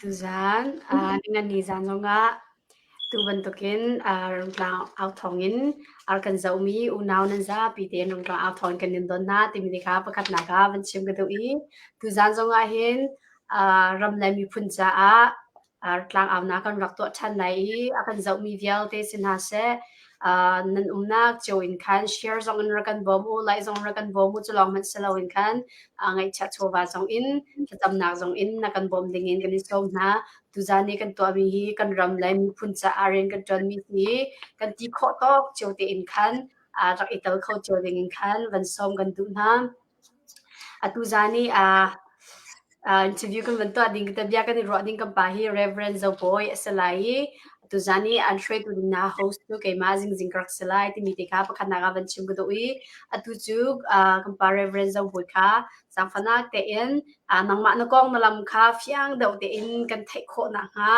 Tuzaan ah ningani zaan zongah tu bantukin Rungtlang au thawngin ar kan zohmi unau nan zapi tein Rungtlang au thawng in kan in dawn hna timi ti kha pakhatnak ah van chim ka duh i tuzaan zongah hin ram le miphun caah tlangauna kan rak tuah ṭhan lai i a kan zohmi vialte si hna seh uh, nan umnak cio in khan share zong in ra kan bawm u lai zong ra kan bawm u cu lawng hmanh silo in khan uh, ngaihchia chawva zong in thlacamnak zong in na kan bawm ding in kan i sawm hna tuzani kan tuahmi hi kan ram le miphun caah rian kan ṭuanmi hi kan ti khawh tawk cio te in khan uh, rak i tel kho cio ding in khan van sawm kan duh hna Atuzaan i aa aa interview kan van tuah ding te bia kan i ruah ding kan pa hi Reverend Zo Bawi a si lai i atuzaan i an hruaitu ding hna host cu keimah Zingzing ka rak si lai timi te kha pakhatnak ah van chim ka duh i atu cu aa kan pa Reverend Zo Bawi kha zaangfahnak tein aa nangmah na kong na lam kha fiang deuh tein kan theih khawh nakhnga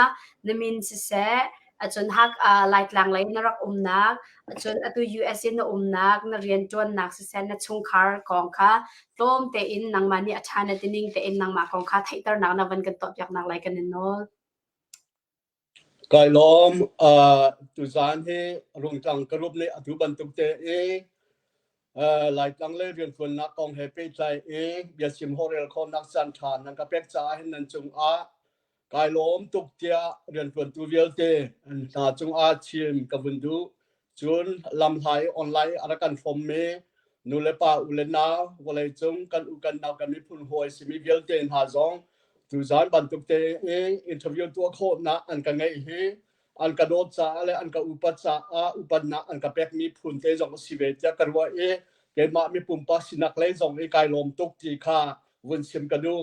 na min siseh acun hak uh, laitlang lei na rak umnak acun atu US in na umnak na riantuannak sisen na chungkhar kong kha tlawm te in nangma ni atha na tining te in nangma kong kha theiternak na van kan to piak nak lai kan in nol kai lom uh, tuzan he rungtang karup ne atu bantuk te e uh, laitlang le riantuan nak kong he pe tlai e biasim horel khon nak san than nang ka pek cha hin nan chung a kai lawm tuk tiah rianṭuantu vialte an hna cungah thim ka vun duh cun lamhlai online a rak kan fommi nu le pa u le nau vawlei cung kan u kan nau kan miphun hawi simi vialte hna zong tu zan bantuk te in interview tuah khawhnak an ka ngeih hi an ka dawt caah le an ka upat caah upatnak an ka pek mi phun te zong si ve tiah ka ruah i keimah mi pumpa sinak lei zong i kai lawm tuk ti kha vun sim ka duh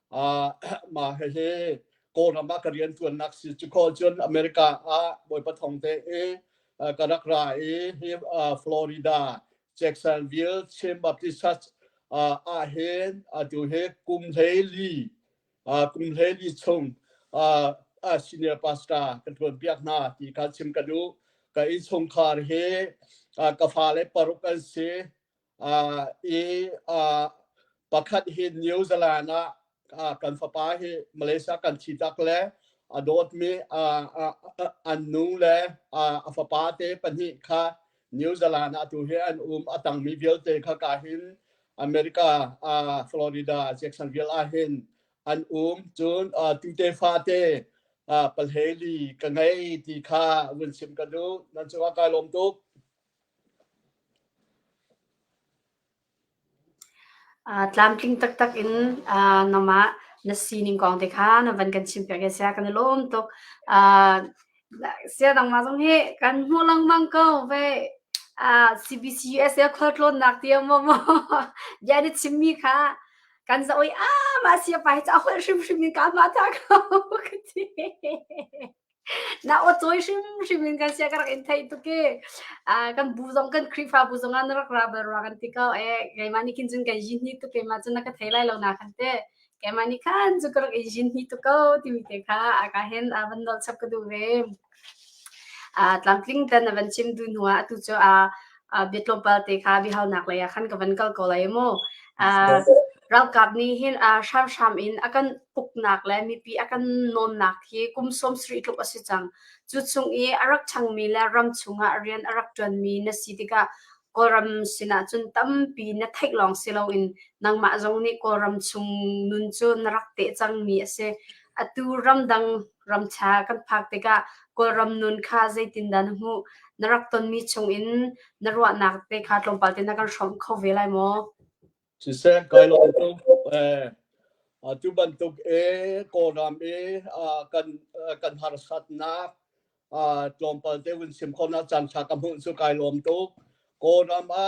mah hihi Kawlram ah ka riantuannak si cu kawl cun America ah bawipa thong te i ka rak ra i hi Florida Jacksonville Chin Baptist Church ah hin atu hi kum hlei li kum hlei li chung senior pastor ka tuan piak hna ti ka chim ka duh ka in chungkhar hi ka fa le paruk an si i pakhat hi New Zealand ah kan fapa hi Malaysia kan thitak le a dawtmi an nu le a fapa te pahnih kha New Zealand ah tu hi an um a tangmi vialte kha ka hin America Florida Jacksonville ah hin an um cun tute fate palheli ka ngei ti kha vun chim ka duh nan cungah kai lawm tuk Tlamtling taktak in na mah na sining kong te kha na van kan chim piak i a sia kan i lawm tuk. Sia nangmah zong hi kan hmuh lengmang ko ve. CBC USA khualtlawnnak ti maw maw bia nih chimmi kha kan za oi ah mah sia pa hi cu a holh hrimhrim in ka mah ta ko ka ti. Na aw cawi hrimhrim in kan sia ka rak in theih tuk i, ah, kan bu zong kan Khrihfabu zong ah na rak ra bal rua kan ti ko. Eh, keimah nih khin cun kan zin hni tuk, keimah cun na ka thei lai lo na kan ti. Keimah nih khan cu ka rak in zin hni tuk ko timi te kha a ka hen a van dolh chap ka duh ve. Ah, tlamtling ten a van chim du hnuah atu cu, ah, uh, bia tlawmpal te kha bihaunak lei ah khan ka van kal ko lai maw uh, ralkap nih hin uh, hramhram in akan puknak le mipi akan nonnak hi kum som sri tluk asi cang cu chung i arak changmi le ram chungah rian arak tuanmi na si tikah kawlram sinah cun tampi na theih lawng si loin nangmah zong nih kawlram chung nun cu na rak te cangmi asi atu ramdang ramtha kan phak tikah kawlram nun kha zeitindah na hmuh na rak tonmi chungin na ruahnak te kha tlawmpal te na kan hrawm kho ve lai maw siseh kai lo tu bantuk e kawlram e kan kan harsatnak tlawmpal te hun sim khona chan tha ka hmuh cu kai lawm tuk kawlram a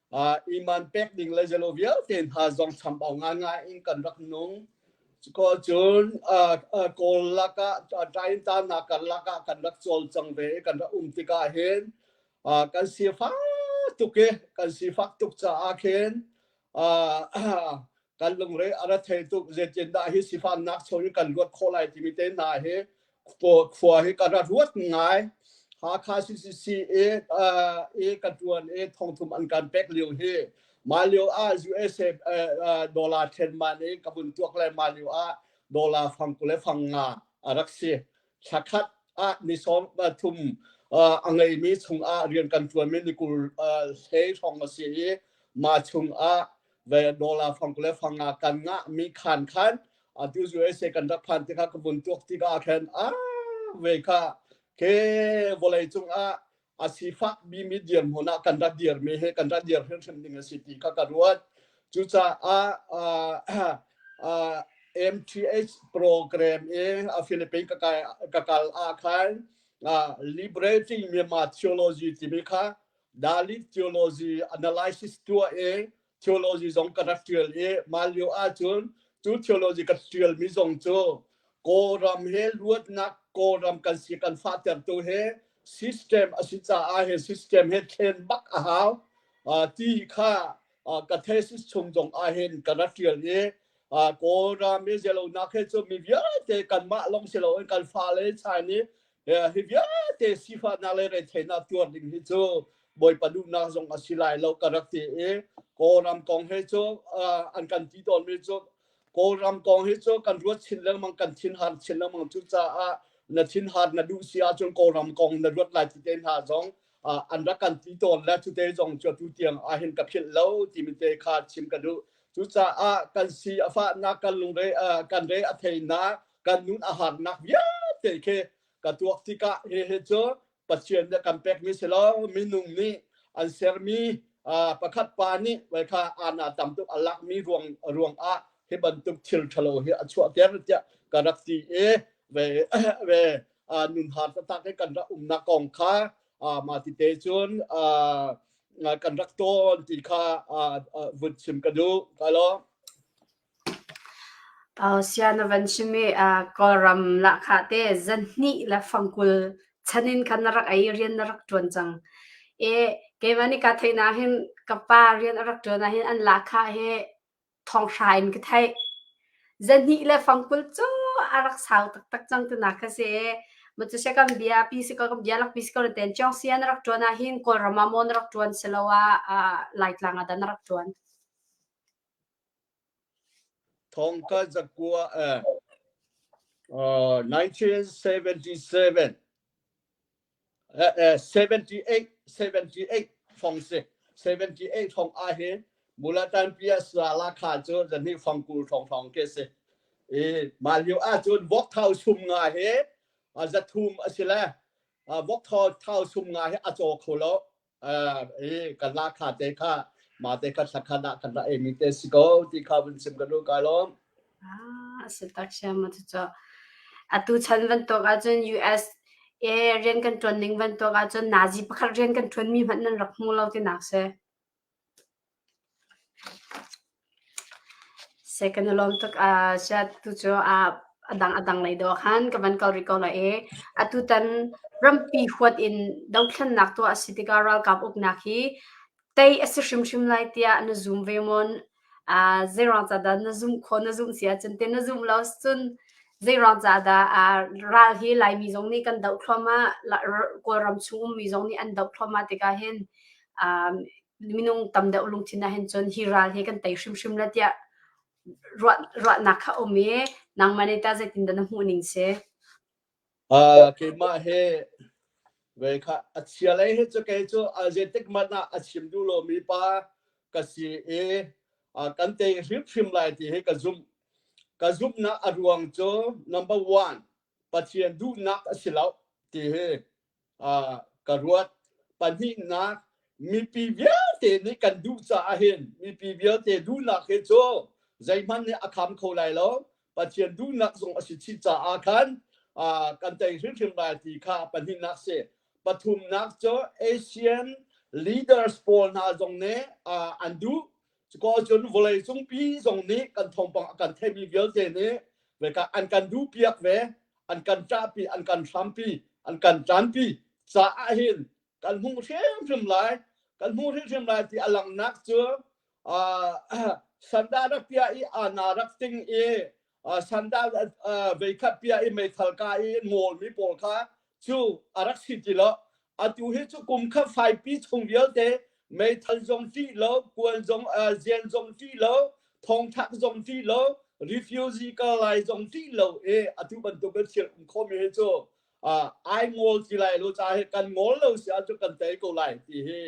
iman pek ding le zelo vialte hna zong chambau ngangai in kan rak nung ko cun kawl lakah taintanak kan lakah kan rak cawl cang ve kan rak um tikah hin kan si fa tuk i kan si fak tuk caah khin kan lungre a ra thei tuk zetindah hi sifannak cho hi kan luat khawh lai timi te hna hi khua hi ka ra ruat ngai Hakha CCC e e ka tuan e thongthum an kan pek lio hi ma lio ah USA dollar then ma ne ka bun tuak le ma lio ah dollar fang kule fang nga arak si thla khat ah ni sawm thum a ngeimi chungah rian kan ṭuanmi ni kul hlei hrawng a si i mah chungah ve dollar fang le fanga kan ngahmi khan khan atu USA kan rak phan tikah ka vun tuak tikah khan a ve kha ke vawlei cungah a sifahmi mi dir hmun ah kan rat dirmi he kan rat dir hrimhrim ding a si ti kha ka ruat cucaah MTH program in a Philippines ka kal ah khan liberating Myanmar theology timi kha Dalik theology analysis tuah i theology zong ka rak ṭial i mah lio ahcun cu theology ka ṭialmi zong cu Kawlram he luatnak Kawlram kan si kan fahtertu he system a si caah he system he thlen bak a hau ti kha ka thesis chung zong ah hin ka rak ṭial i Kawlram i zelonak he cu mi vialte kanmah lawng si loin kan fale Chinese hi vialte sifahnak le retheihnak tuar ding hi cu bawipa duhnak zong a si lai lo ka rak ti i kawlram kong he cu an kan ti tawn mi cu kawlram kong hi cu kan ruat chin lengmang kan thin har chin lengmang cu caah na thin har na duh si ahcun kawlram kong na ruat lai ti te hna zong an rak kan ti tawn le cute zong cu tu tiang ah hin ka philh lo ti mi te kha chim ka duh cucaah kan si a fahnak kan lungre kan re a theinak kan nun a harnak vialte khi ka tuak tikah hihi cu Pathian nih kan pekmi si lo minung nih an sermi pakhat pa nih vai kha ana tam tuk a lakmi ruang ruang ah hi bantuk thil thalo hi a chuahter tiah ka rak ti e ve ve nun har tatak hi kan rak umnak kong kha ma ti te cun kan rak ton ti kha vun chim ka du ka lo Sia na van chim i Kawlram lahkhah te zanhnih le fang kul chan in khan na rak ei i rian na rak ṭuan cang. keimah nih kaa theih nakin ka pa rian a rak ṭuan ahhin an lahkhah hi thonghra in ka theih. Zanhnih le fang kul cu a rak sau taktak cang tinak kha si. Macu sih kan bia pi si kaw kan bia lakpi si kaw na ten ṭiang sia na rak ṭuan ahhin Kawlram ah maw na rak ṭuan siloah Laitlang ah dah na rak ṭuan? Thawngka zakua eh, uh, 1977 eh, eh, 78 78 phong si 78 phong a hi mulatan pia sala kha cu zani phong kul thong thong ke si i malio a cun vok thau sum nga hi a zathum a si le vok thau thau sum nga hi a chaw kho lo i kan lah kha te kha ma te kha thakhan ah kan ra ei mi te si ko ti kha vun sim kan lu kai lom ah si tak sia ma tu cho atu chan van to ga chun US e rian kan tuan ning van to ga chun nazi pakhat rian kan tuan mi man nan rak mu lo ti nak se Se kan i lawm tuk ah ziah tu cu a dang a dang lei dawh khan ka van kal rih ko lai i atutan rampi huat in dothlennak tuah a si tikah ralkap uknak hi tei a si hrimhrim lai tiah na zum ve mawn? Zeirang ca dah na zumh khawh, na zumh si ahcun ti na zumh lo cun zeirang ca dah ral hi Laimi zong nih kan doh thluahmah, Kawlram chung ummi zong nih an doh thluahmah tikah hin minung tam deuh lungthin ah hin cun hi ral hi kan tei hrimhrim la tiah ruah ruahnak kha um i nangmah nih ta zeitin dah na hmuh ning si uh, keimah he ve kha a chia lei he cu kei cu zetik man ah a chim du lo mi pa ka si i kan tei hrimhrim lai ti hi ka zumh ka zumhnak a ruang cu number one pathian duhnak a si lo ti hi ka ruat. Pahnihnak, mipi vialte nih kan duh caah hin mipi vialte duhnak hi cu zeihmanh nih a kham kho lai lo. Pathian duhnak zong a si chih caah khan kan tei hrimhrim lai ti kha pahnihnak si. Pathumnak cu Asian leaders pawl hna zong nih an duh Ciko cun vawlei cung pi zong nih kan thawngpang a kan theimi vialte nih veka an kan du piak ve, an kan ṭah pi, an kan hram pi, an kan ṭan pi caah hin kan hmu hrimhrim lai, kan hmu hrimhrim lai ti a langnak cu uh, sanda rak pia i ana rak ting i sandal veikhat pia i meithal ka i ngolmi pawl kha cu a rak si ti lo atu hi cu kum kha faipi chung vialte meithal zong ṭih lo kuan zong zian zong ṭih lo thongthak zong ṭih lo refugee kal lai zong ṭih lo e atu bantuk in thil um khomi hi cu ai ngol ti lai lo ca hi kan ngol lo si ahcun kan tei ko lai ti hi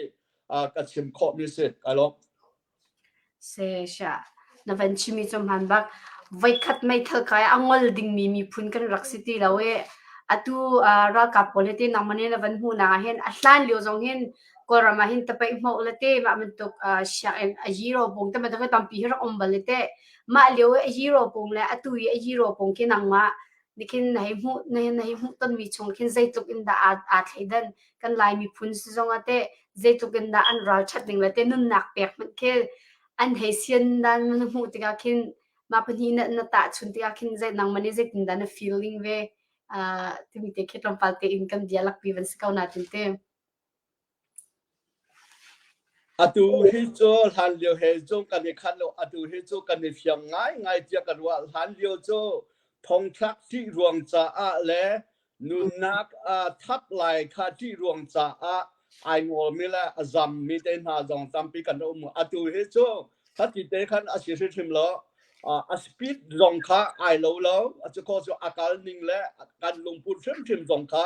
ka chim khawhmi si ka lawm Sesha, na van chimmi cu hmaan bak. Voikhat meithal kai a ngol dingmi miphun kan rak si ti lo i atu ah ralkap pawl hi ti nangmah nih na van hmuhnak ah hin a hlan lio zong hin Kawlram ah hin tapaih hmawh le ti mah bantuk ah sianginn a zero pung te bantuk hi tampi hi rak um bal i ti. Mah lio i a zero pung le atu i a zero pung khi nangmah Nikin na hei hmuh na hei hmuh tonmi chung khin zeitluk in dah aa, aa thleidan kan Lai miphun si zong ah teh zeitluk in dah an ralchat ding le te nunnak pek hmanh khi an hei sian dan na hmuh tikah khin mah pahnih na, na tah chun tikah khin zei nang man i zeitin dah na feeling ve uh, timi te khi tlawmpal te in kan bia lakpi van si ko na tin te. Atu hi cu hlanlio he cu kan i khat lo. Atu hi cu kan i fiang ngaingai tiah ka ruah. Hlanlio cu thongthlak ṭih ruang caah le nunnak aa thap lai kha ṭih ruang caah ai ngolmi le a zammi te hna zong tampi kan um. Atu hi cu hati te khan a si hrimhrim lo. Uh, a speed zong kha ai lo lo. A cu kaw cu a kal ning le a kan lungput hrimhrim zong kha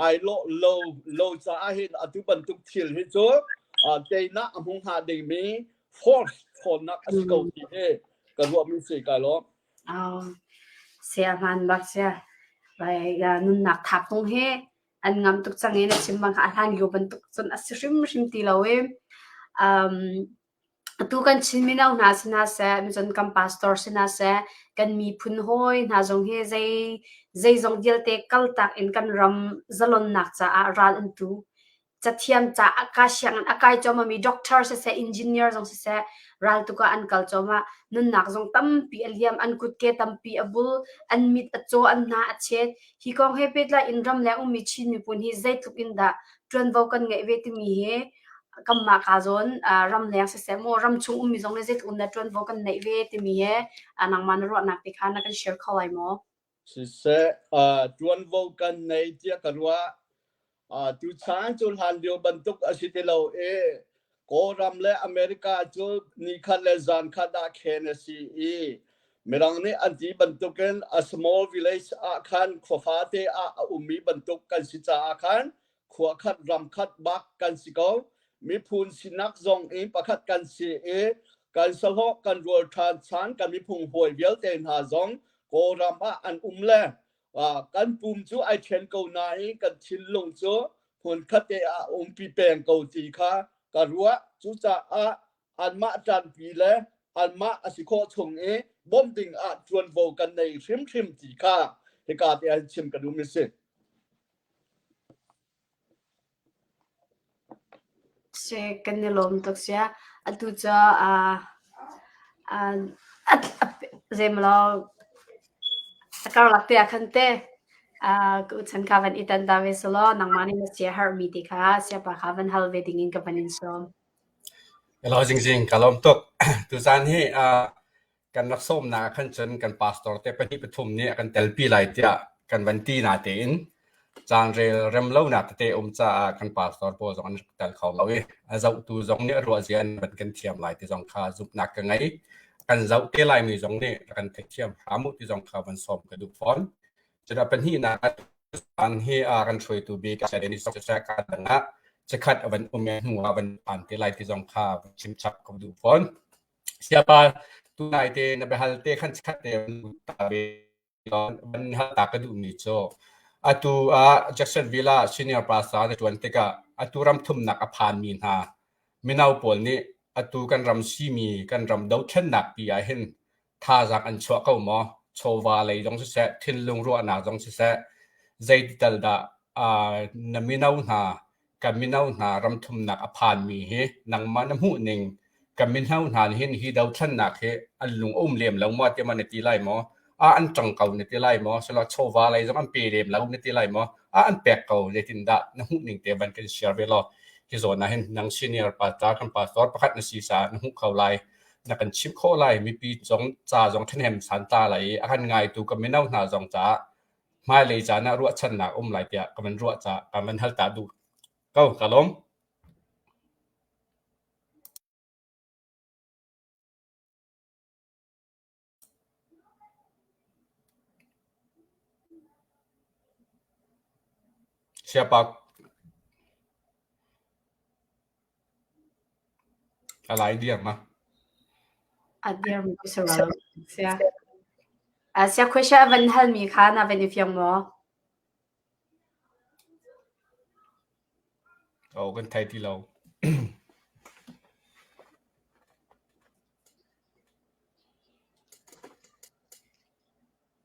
ai lo lo lo caah hin atu bantuk thil hi cu teinak a hmu hnga dingmi force ṭhawnnak a si ko ti hi ka ruahmi si ka lo. Au, sia hman bak sia. Bai nunnak thap tung hi an ngam tuk chang in a chim bang a hlan yu bantuk cun a si hrim hrim ti lo em. Um, Atu kan Chin mino hna si hna seh, michun kan pastor si hna seh, kan miphun hawi hna zong hi zei, zeizong vialte kaltak in kan ram zalonnak caah ral an tu. Cathiam caah kaa siangin a kai cawmami doctor siseh, engineer zong siseh, ral tukah an kal cuahmah. Nunnak zong tampi a liam, an kutke tampi a bul, an mit a caw, an hna a chet. Hi kong he pehtlai in ram le ummi Chin miphun hi zeitluk in dah ṭuanvo kan ngeih ve timi hi kamma ka zon ram leng se se mo ram chung ummi zong le zeitluk na ṭuanvo kan neih ve timi he nangmah na ruahnak te kha na kan share kho lai maw? Siseh, ṭuanvo kan nei tiah ka ruah. Tuchan cu hlan lio bantuk a si ti lo i Kawlram le America cu ni khat le zan khat ah khen a si i Mirang nih an ti bantukin a small village ah khan khuafate ah a ummi bantuk kan si caah khan khua khat ram khat bak kan si ko miphun sinak zong in pakhat kan si i kan sahlawh kan rual ṭhan chan kan miphung hawi vialte hna zong kawlram ah an um le kan pum cu ai ṭhen ko nain kan thinlung cu hmun khatte ah umpi peng ko ti kha ka ruah cucaah anmah ṭanpi le anmah a si khawh chung i bawm ding ah ṭuanvo kan nei hrimhrim ti kha hika te an chim ka dum i si. Kan i lawm tuk sia. Atu cu zeimlaw a karlak te ah khan te kachan ka van i tan ta ve selaw nangmah nih na siaherh mi ti kha siapa kha van hal ve ding in ka van in sawm. Ka lawm tuk. Tuzaan hi kan rak sawmnak ah khan cun kan pastor te pahnih pathum nih a kan telpi lai tiah kan van ti na tein caan rel rem lonak tete um caah kan pastor pawl zong an tel kho lo i a zohtu zong nih a ruahzia an van kan thiam lai ti zong kha zumhnak ka ngei kan zoh te lai mi zong nih kan theih thiam hram u ti zong kha van sawm ka duh fawn cuna pahnih na an hi a kan hruaitu bik a Dennis ka dangah chakhat a van um hnu ah van an te lai ti zong kha chim chap ka duh fawn Siapa tunai te na biahal te khan chikkhat te van hmuh ta ve tiah van in hal ta ka duhmi cu atu ah Jackson Villa senior pasa na ṭuan tikah atu ram thumnak a phanmi hna mino pawl nih atu kan ram simi kan ram dothlennak pi ah hin thazaang an chuah ko maw? Chawva lei zong siseh, thinlung ruahnak zong siseh, zeiti tal dah na mino hna ka mino hna ramthumnak a phanmi hi nangmah na hmuh ning ka mino hna nih hin hi dothlannak hi an lung um lem lo maw ti ma na ti lai maw a an tang ko na ti lai maw selo chawva lei zong an pe lem lo na ti lai maw a an pek ko ne tin da na hmuh ning te ban kan share ve lo hi zo na hin nang senior pastor kan pastor pakhat na si sa na hmuh kho lai na kan chim kho lai mipi zong ca zong than hem san ta lai a kan ngai tu ka mino hna zong ca hmailei caan ah ruahchannak a um lai tiah ka van ruah caah ka van hal ta duh ko ka lawm. Siapa A lai diam ah. A diam ka si rol. Sia. Sia question a van hal mi kha na van i fiang maw? Oh, kan thai ti lo.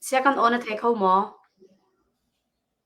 Sia kan on a thei kho maw?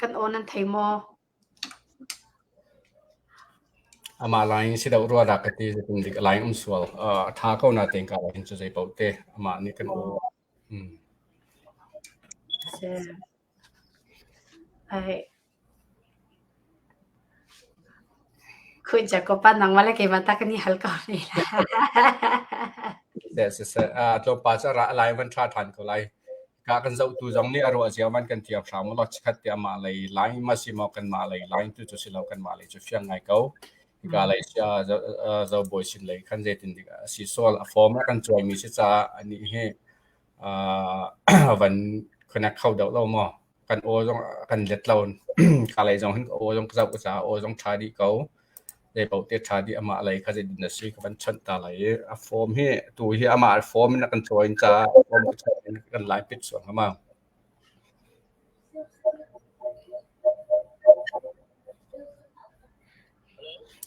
Kan aw nan thei maw? Amah lai in si deuh rua dah ka ti. Zeitin dik a lai um sual. A ṭha ko natein karah hin cu zei paoh teh amah nih kan aw. Hm. Ai. Khuinca kopa nang mahle keimah ta kan i hal ko rih lai. Le siseh, ah, tlawmpal cu a ra lai van ṭha ṭhan ko lai. Ka kan zohtu zong nih a ruah cio man kan tiak hram ulaw chikkhat te amah lei line ma si maw kanmah lei line tu cu si lo kanmah lei cu fiang ngai ko. Hika lei sia Zo aa Zo Bawi sin lei khan zeitin dik a si sual a form a kan cuaimi si caah anih hi aa van connect kho deuh lo maw? kan aw zong kan let lo. Ka lei zong hin ka aw zong ka zoh ka caah aw zong ṭha dih ko. Zei paoh te ṭha dih amah lei kha zeitin a si ka van chawnh ta lai i a form hi tu hi amah form in a kan ṭawi caah form a ṭha in kan lai pit suang hnga.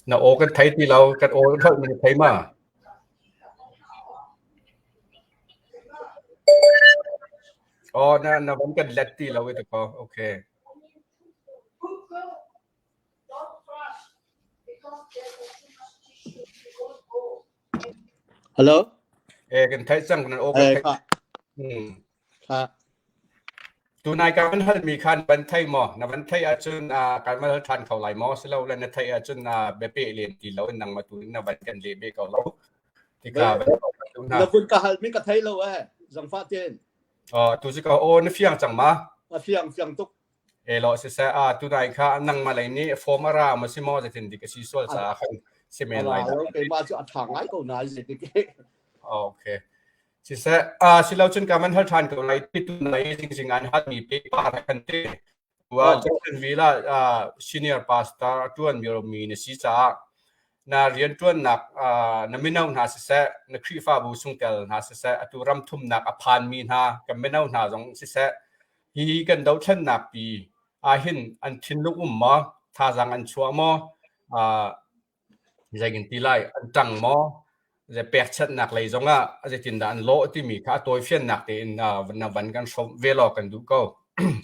Na aw kan thei ti lo, kan aw kan holh min thei ma. Aw na na van kan let ti lo i ti kaw okay. Hello? Eh kan thấy rằng nan okay Eh, thấy. kha, Hmm. kha, Tunai kan hal mi khan ban thei mo na ban thei a chun a kan mal than kho lai mo silo le na thei a chun na be pe len ti lo nang ma tu na ban kan le be ko lo Na hun ka hal mi ka thei lo eh zangfah tein. Tu si ka o na fiang cang ma? A fiang fiang tuk. E lo se se a tu dai kha nang ma lei ni form ara ma si mo ze tin dik si sol sa khan si men lai da. Ke ma chu atha ngai ko nai ze dik. Okay. Si se a si lo chun ka man hal than ko lai ti tu nai jing jing an hat mi pe pa ra kan te. Jackson Villa ah senior pastor a ṭuanmi romi na si caah na rianṭuannak ah na mino hna siseh, na Khrihfabu chungtel hna siseh, atu ram thumnak a phanmi hna, kan mino hna zong siseh, hi kan dothlennak pi ahhin an thinlung um maw, thazaang an chuah maw, ah Zeitinti lai an ṭang maw? Zei pekchanhnak lei zongah zeitindah an lawh timi kha a tawifiannak tein na van kan hrawmh ve law kan duh ko.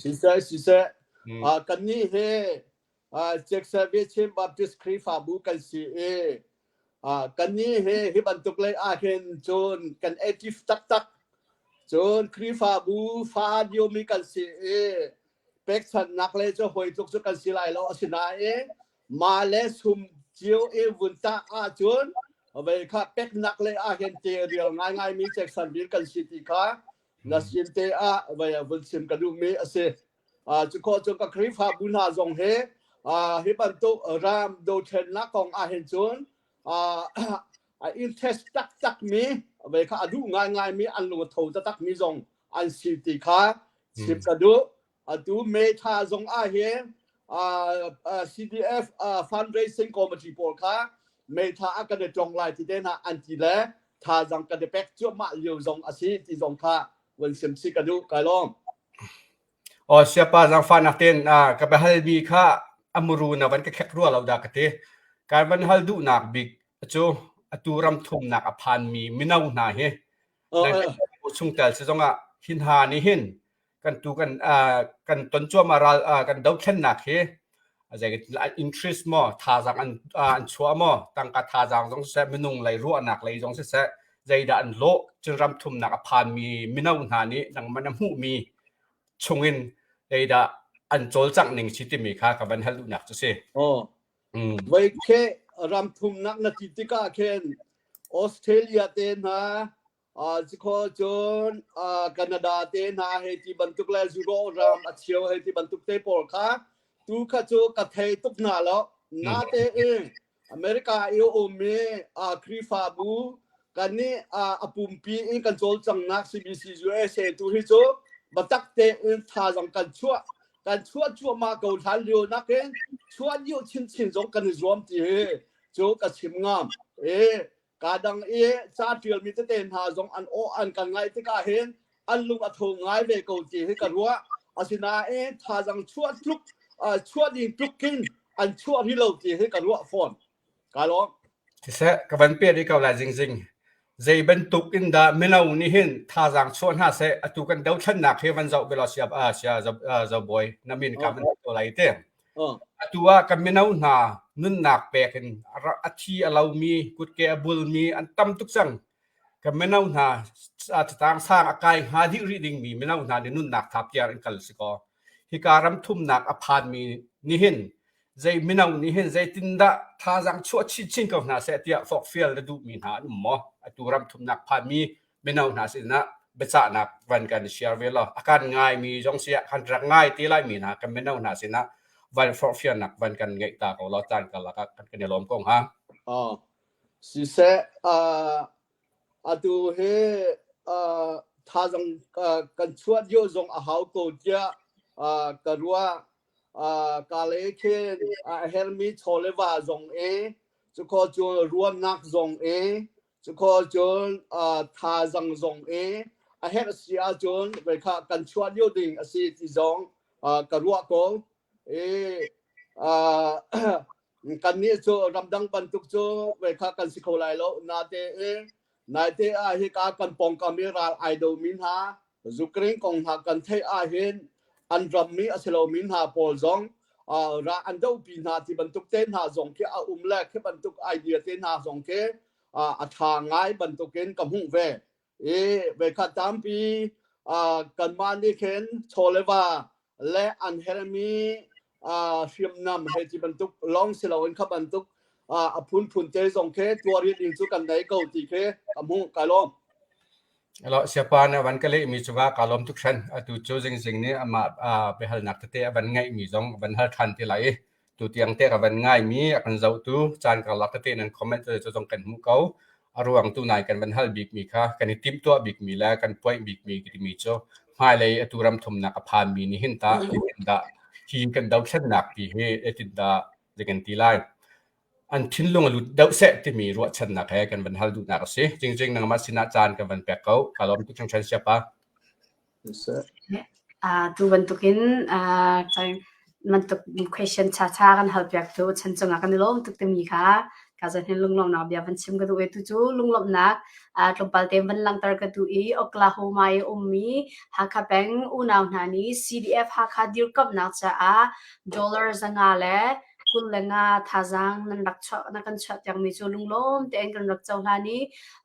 Siseh siseh mm. uh, kannih hi uh, Chiaksa Viachem Baptist Khrihfabu kan si i uh, kannih hi hi bantuk lei ahhin cun kan active taktak cun Khrihfabu fa diomi kan si i pekchanhnak lei cu hawi tluk cu kan si lai lo asinain Mah le sum cio e vun tah ahcun vei kha peknak le ahhin te rial ngaingai mi Jackson vir kan si ti kha na sin te ah vei vun sim ka duhmi a si. Uh, cu ko cun ka Khrihfabu hna zong he uh, hi bantuk ram dothlennak kong ahhin cun uh, a interest taktak mi vei kha a duh ngaingai mi an lung a tho taktak mi zong an si ti kha chim ka duh. atu metha zong ah hi CDF fundraising committee pawl kha metha a kan i tong lai ti te na an ti le thazang kan i pek cuahmah lio zong a si ti zong kha wan sem si ka duh kai lom o siapa zangfa nak ten ka be hal mi kha amuru na van ka khek rua lo da ka te kan van hal du nak big chu atu ram thum nak a phan mi mino hna hi chung tel si zong ah hin ha ni hin kan tu kan kan ton cuama ral kan dothlennak hi interest maw thazang an an chua maw tangka thazang zong siseh minung lei ruahnak lei zong siseh zeidah an lawh cun ram thumnak a phanmi mino hna nih nang man a hmuhmi chungin zeidah an cawlcangh ning si timi kha ka van hal duhnak cu si. Oh. Mm. Voi khe ram thumnak na ti tikah khen Australia te hna Cikho cun Canada te hna he ti bantuk le zuro ram a cheu he ti bantuk te pawl kha tu kha cu ka thei tuk hna lo. Nate in America i um i Khrihfabu kan nih a pumpi in kan cawlcanghnak CBC USA tu hi cu biatak tein thazaang kan chuah kan chuah cuahmah ko hlan lio nakin chuah lio chinchin zong kan i zuam ti hi cu ka chim ngam. E Ka dang i ca ṭialmi tete hna zong an aw an kan ngaih tikah hin an lung a tho ngai ve ko ti hi ka ruah. Asinain thazaang chuah tluk chuah ding tluk hin an chuah rih lo ti hi ka ruah fawn. Ka lawm. Siseh, ka van pe rih ko lai zingzing. Zei bantuk in dah mino nih hin thazaang chuah hna seh atu kan dothlannak hi van zoh ve law siap a sia zo bawi na min ka man ko lai te. Atu ah kan mino hna nunnak pek in a thi a lomi kutke a bulmi an tam tuk cang. Kan mino hna catang sang a kai hnga dih rih dingmi mino hna nih nunnak tha piar in kal si kaw hika ram thumnak a phanmi nih hin zei mino nih hin zeitindah thazang chuah chin chin ko hna seh tiah forkfial na duhmi hna an um maw? Atu ram thumnak phanmi mino hna sinah biacahnak van kan share ve law a kan ngaimi zong si ah kan rak ngai te lai mi hna kan mino hna sinah van forhfialnak van kan ngeih ta ko law caan kalak ah kan kan i lawm ko hnga. Oh. Siseh, uh, atu he uh, thazang uh, kan chuat yo zong a hau ko tia uh, ka rua uh, ka le khe a hermi chole wa zong e, chu ko chu ruamnak zong e, Cukhawh cun thaazang zong i a herh a si ahcun veikhah kan chuah lio ding a si ti zong ka ruah ko. I kannih cu ramdang bantuk cu veikhah kan si kho lai lo. Natein naite ah hika kan pawngkam i ral ai do mi hna Ukraine kong hna kan theih ahhin an rammi a si lomi hna pawl zong ra an dohpi hna ti bantuk te hna zong khi a um le khi bantuk idea te hna zong khi a tha ngai bantukin ka hmuh ve i vekhat tampi kanmah nih khin chawleva le an herhmi hriamnam he ti bantuk long si loin kha bantuk a phunphun te zong khi tuarit in cu kan nei ko ti khi ka hmu ka lawm lo siapa na van ka le mi chuwa ka lom tuk shan atu chu jing jing ni ama pe hal nak te a van ngai mi zong van hal than ti lai Tutiang te ka van ngaimi a kan zohtu caan karlak tete nan comment cu zong kan hmuh ko. A ruang tu nai kan van hal bikmi kha kan i timhtuah bikmi le kan poih bikmi timi cu hmailei atu ram thumnak a phanmi nih hin tah zeitindah hi kan dothlennak ti hi zeitindah zei kan ti lai. An thinlung a lut deuh seh timi ruahchannak he kan van hal duhnak a si. Jingjing nangmah sinah caan kan van pek ko. Ka lawm tuk changchan siapa. Tu bantukin question ṭhaṭha kan halpiak tu chan cungah kan i lawm tuk timi kha ka zan hin lunglawmnak bia van chim ka duh i tucu lunglawmnak tlawmpal te van langhter ka duh i Oklahoma i ummi Hakha peng unau hna nih CDF Hakha dirkamhnak caah dollar zanga le kul le nga thazaang nan rak chuah na kan chuah tiang mi cu lunglawm tein kan rak co hlan i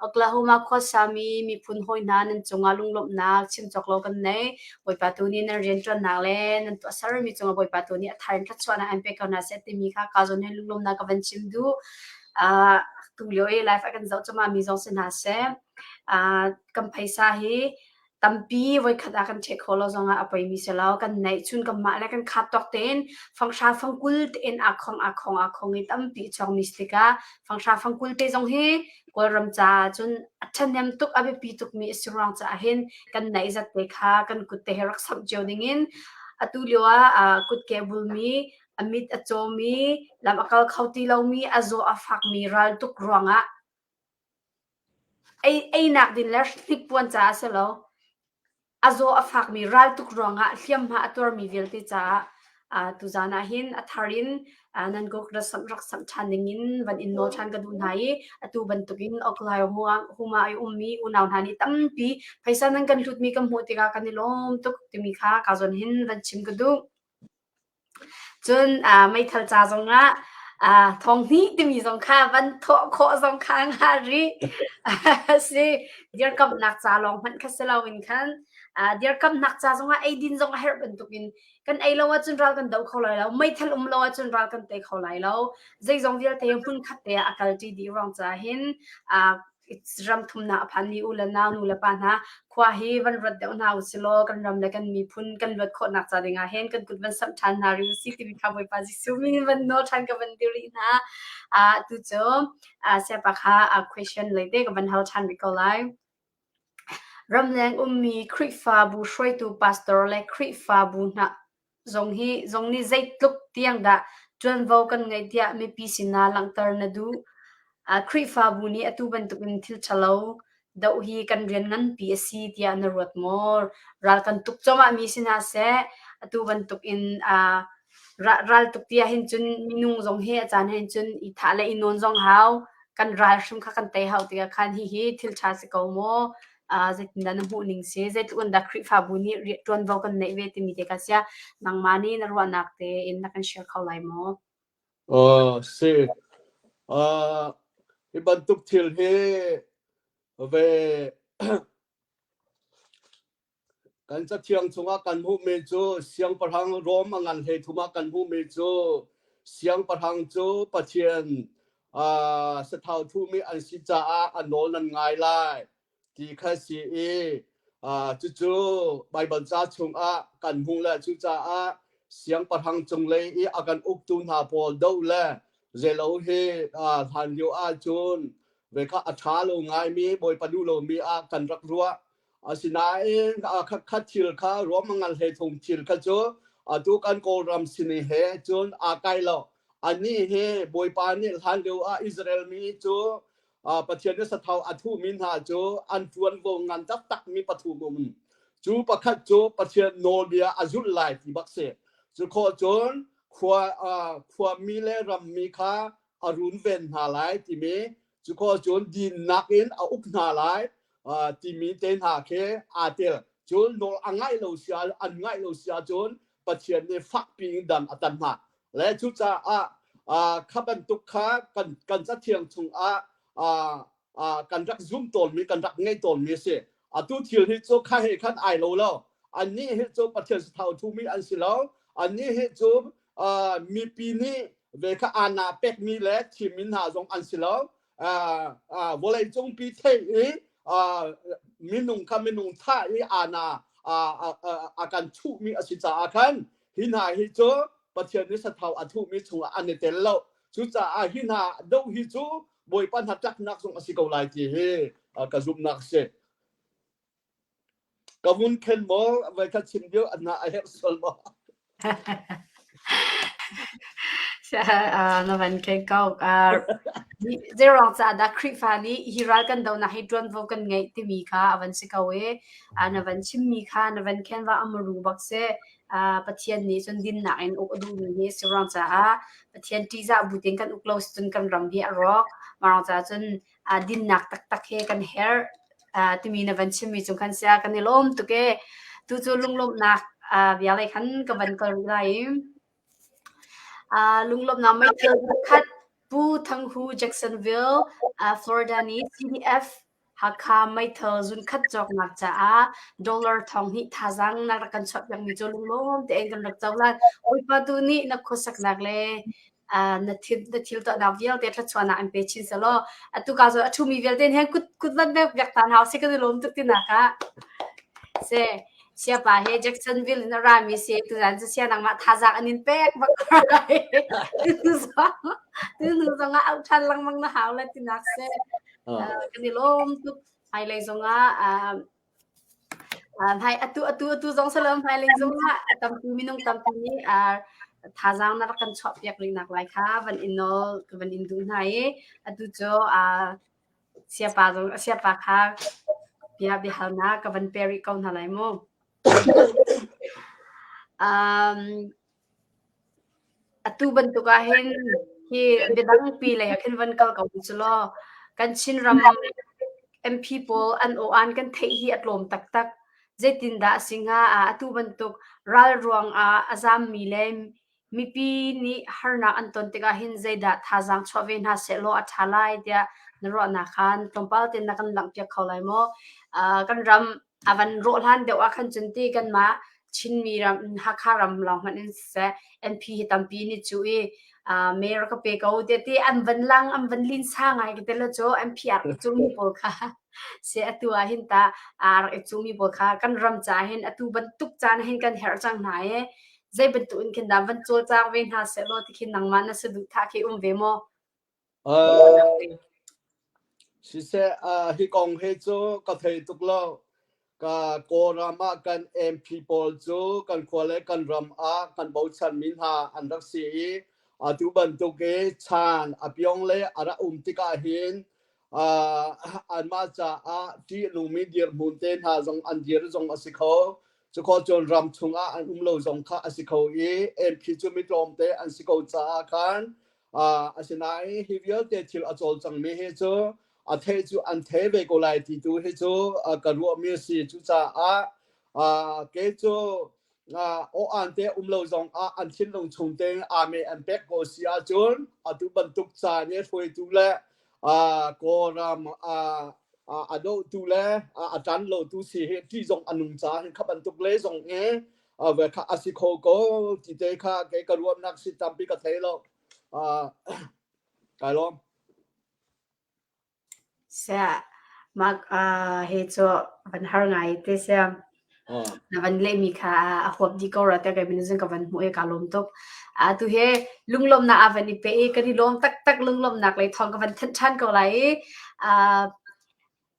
Oklahoma khua sami miphun hawi hna nan cungah lunglawmhnak chim cawk lo kan nei Bawipa tu nih nan rianṭuannak le nan tuah sermi cungah Bawipa tu nih a thar in thluachuahnak an pek ko hna seh timi kha ka zawn he lunglawmnak ka van chim du uh, tu lio i life a kan zoh cuma mi zong si hna se uh, kan phaisa hi Tampi voikhat ah kan check kho lo zongah a poimi si lo. Kan neih cun kanmah le kan khat tawk tein fanghra fangkul tein aakhong aakhong aakhong i tampi chuangmi si tikah fanghra fangkul te zong hi Kawlram caah cun a ṭhahnem tuk, a biapi tukmi a si ruang caah hin kan neih zatte kha kan kut te hi rak samh cio dingin atu lio ah aa kutke a bulmi, a mit a cawmi, lam a kal kho ti lomi, a zaw a fakmi raltuk ruangah Einak din le hnikpuan caah a si lo. A zaw a fakmi raltuk ruangah hliamhma a tuarmi vialte caah tuzaan ahhin a thar in nan gok rak samh ṭhan dingin van in nawl ṭhan ka duh hna i atu bantukin Oklai huma i ummi unau hna nih tampi phaisa nan kan hlutmi kan hmuh tikah kan i lawm tuk timi kha ka zawn hin van chim ka duh. Cun aa meithal ca zongah aa thawng hnih timi zong kha van thawh khawh zong kha a ngah rih. A si. Dirkamhnak ca lawng hmanh kha si loin khan aa dirkamhnak ca zongah eidin zong a herh bantukin kan ei lo ahcun ral kan do kho lai lo. Meithal um lo ahcun ral kan pe kho lai lo. Zeizong vialte hmunkhat te ah a kalṭi dih ruang caah hin aa ram thumnak a phan i u le nau, nu le pa hna, khua hi van ruat deuh hna u silaw kan ram le kan miphun kan luat khawhnak ca dingah hin kan kut van samh ṭhan hna rih u si timi kha Bawipa Jesuh min van nawl ṭhan ka van dil rih hna. A tu cu siapa kha a question leite ka van hal ṭhan rih ko lai. Ramleng ummi Khrihfabu hruaitu pastor le Khrihfabu hna Zong hi zong nih zeitluk tiang dah ṭuanvo kan ngeih tiah mipi sinah langhter na duh? Khrihfabu nih atu bantukin thil ṭhalo doh hi kan rian nganpi a si tiah na ruat maw? Ral kan tuk cuahmah mi si hna seh, atu bantukin raltuk ti ahhin cun minung zong hi a caan ahhin cun i thah le i nawn zong hau. Kan ral hrim kha kan tei hau tikah khan hihi thil ṭha si ko maw? zeitindah na hmuh ning si zeitluk in dah Khrihfabu nih ṭuanvo kan neih ve timi te ka sia nangmah nih na ruahnak tein na kan share kho lai maw? Oh si. Uh, hi bantuk thil hi ve kan cathiang chungah kan hmuhmi cu siangpahrang Rom a ngan hlei thumah kan hmuhmi cu siangpahrang cu Pathian sathau thumi an si caah a nawl nan ngai lai ti kha si i cucu Baibal ca chungah kan hmuh le cucaah siangpahrang cunglei i a kan uktu hna pawl doh le zelo hi hlan lio ah cun ve kha a ṭha lo ngaimi bawipa duh lomi ah kan rak ruah Asinain khatkhat thil kha ruam a ngal hlei thung thil kha cu atu kan Kawlram sini he cun aa kai lo. Ani he Bawipa nih hlan lio ah Israel mi cu Pathian nih sathau a thuhmi hna cu an ṭuanvo ngan taktakmi pathum um. Cu pakhat cu Pathian nawlbia a zulh lai ti bak si. Cu khawh cun khua, khua mi le ram mi kha a runven hna lai timi cu ko cun dinnak in a uk hna lai timi te hna khi aa tel cun nawl a ngaih lo sia an ngaih lo sia cun pathian nih fakpi in dan a tan hna le cucaah kha bantuk kha kan kan cathiang chungah kan rak zum tawnmi kan rak ngei tawnmi a si atu thil hi cu kha he khan ai lo lo annih hi cu pathian sathau thumi an si lo annih hi cu mipi nih ve kha ana pekmi le thimmi hna zong an si lo vawleicung pi theih i minung kha minung tha i ana a kan thuhmi a si caah khan hi hna hi cu pathian nih sathau a thuhmi chungah an i tel lo cucaah hi hna doh hi cu bawipa hna tlaknak zong a si ko lai ti hi ka zumhnak a si Ka vun khen maw voikhat chim lio a na a herh sual maw? na van kei ko. Zeirang ca dah Khrihfa nih hi ral kan donak hi ṭuanvo kan ngeih timi kha a van si ko i na van chimmi kha na van khenva amaru bak si Pathian nih cun dinnak in uk a duhmi hi a si rang caah Pathian ṭihzah bu tein kan uk lo si cun kan ram hi a rawk. Mah rang caah cun aa dinnak taktak he kan herh timi na van chimmi cu khan sia kan i lawm tuk e tu cu lunglawmhnak vialei khan ka van kal rih lai i lunglawmhnak meithal pakhat Pu Thang Hu Jacksonville Florida ni CDF Hakha meithal zunkhat cawknak caah dollar thong hnih thazang na rak kan chawt piakmi cu lunglawm tein kan rak co lai Bawipa tu nih na khuasaknak le Ah na thil na thil tuahnak vialte thluachuan ah an pe chin selaw atu ka cu a ṭhumi vialte he kut kut van vek vek ta hna usih ka ti lawm tuk tinak ah se siapa he Jacksonville in a rami si tu zan cu sia nangmah thazak an in pek bak lai tu zong tu zong ah au ṭhan lengmang na hau le tinak se kan i lawm tuk hmailei zong ah Hmai atu atu atu zong si lo hmailei zongah tampi minung tampi nih thazaang na rak kan chuahpiak rih nak lai kha van in nawl van in duh hna i atu cu siapa zong siapa kha bia biahalnak ka van pe rih ko hna lai mu. Atu bantuk ahhin hi biadangpi lei ah khin van kal ko u si law kan Chinram MP pawl an aw-an kan theih hi a tlawm taktak. Zeitindah a si hnga? Atu bantuk ral ruang ah a zaammi le mipi nih harnak an ton tikah hin zeidah thazaang chuah ve hna sehlaw a ṭha lai tiah na ruahnak khan tlawmpal tein na kan langhpiak kho lai maw? Kan ram A van rawh hlan deuh ahkhan cun ti kanmah Chinmi ram Hakha ram lawng hmanh in siseh NP hi tampi an i cuh i aa mayor ka pe ko tiah ti an van lang an van linsa ngai ka tel lo cu NP aa rak i cungmi pawl kha si atu ahhin tah aa rak i cungmi pawl kha kan ram caah hin atu bantuk caan hin kan herh cang hna i zei bantuk in khin dah van cawlcang ve hna sehlaw tikhin nangmah na saduhthah khi um ve maw? Siseh hi kong he cu ka thei tuk lo. Ka Kawlram ah kan MP pawl cu kan khua le kan ram ah kan bochanmi hna an rak si i atu bantuk i chan a piong le a rak um tikah hin anmah caah ṭihnungmi dirhmun te hna zong an dir zong a si kho. Cukhor cun ram chungah an um lo zong kha a si kho i MP cu mi tlawmte an si ko caah khan asinain hi vialte thil a cawl cangmi hi cu a the cu an the ve ko lai ti tu hi cu ka ruahmi si cucaah ke cu o an te um lo zong ah an thin lung chung te ame an pek ko si ahcun atu bantuk caan hi hruaitu le kawram a dotu le a tan lo tu si hi ti zong anung ca hin kha bantuk le zong e ave kha asi kho ko ti te kha kei ka ruamnak si tampi ka thei lo kai lom se mak he cho van har ngai te se na van le mi kha a hop di ko ra ta kai min zan ka van mu e ka lom tok a tu he lunglom na avan i pe kan i lom tak tak lunglom nak lai thong ka van than than ko lai a